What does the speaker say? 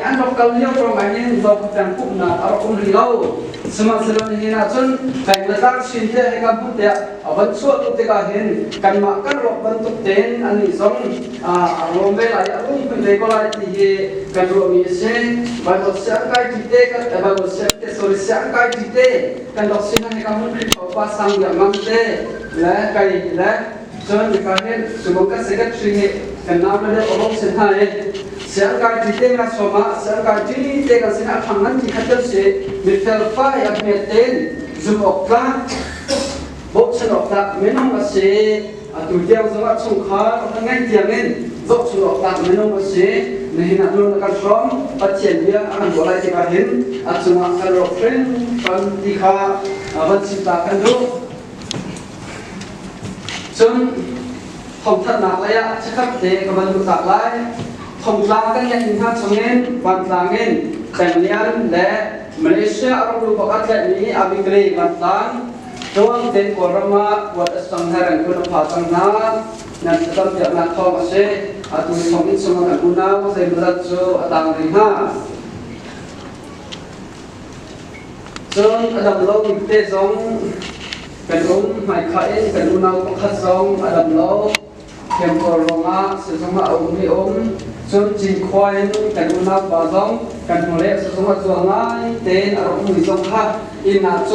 an rak kal lio ṭong ah hin zok peng pumhnak a rak um rih lo sihmanhsehlaw nihin ah cun peng le tlang chin te hei kan hmuh tiah a van chuah tuk tikah hin kanmah kan rawk bantuk tein annih zong a ruam ve lai a rum kun ve ko lai ti hi kan ruahmi a si balot si an kai ti te kan balot si te sorry si an kai ti te kan rak sin hei kan hmuh rih ko pa sang yang ngam te le kai le Cun mipa nih Tubuka secretary nih kan nau le deuh a bawm sin hna i siangkai ti te nga som ah siangkai ti te kan sin ah thang ngan ti khat kan si mi felfai a hmet ten zum awk tlak bohchan awk tlak minung a si atu tiang zong ah chungkhar kan ngaih tiang in zohchun awk tlak minung a si nihin ah nun kan hrom pathian bia a kan buah lai tikah hin a cungah kan rawk hrim ti kha van chimta kan duh Cun thawngthanhnak lei ah chikhat te ka van luhtak lai. Thongtlang kan ngeih hnu hna chungin vantlang in Tanglian le Malaysia ramlu bak ah tlaihmi Abigray vantlang Tuan te Kawlram ah kuat a sang he kan kun a pha cang hna. Nan thlacam piaknak thawng a si. Atu thawng in chung kan unau zeimadat cu a tang rih hna. Cun a dam lo bik te zong kan um, hmaikhah in kan unau pakhat zong a dam lo. Temple ruangah sizungah a um i um. Cun Cinkhua in kan unaupa zong kan hnuleh sizungah zual ngai tein a rak um mi zong kha inn ah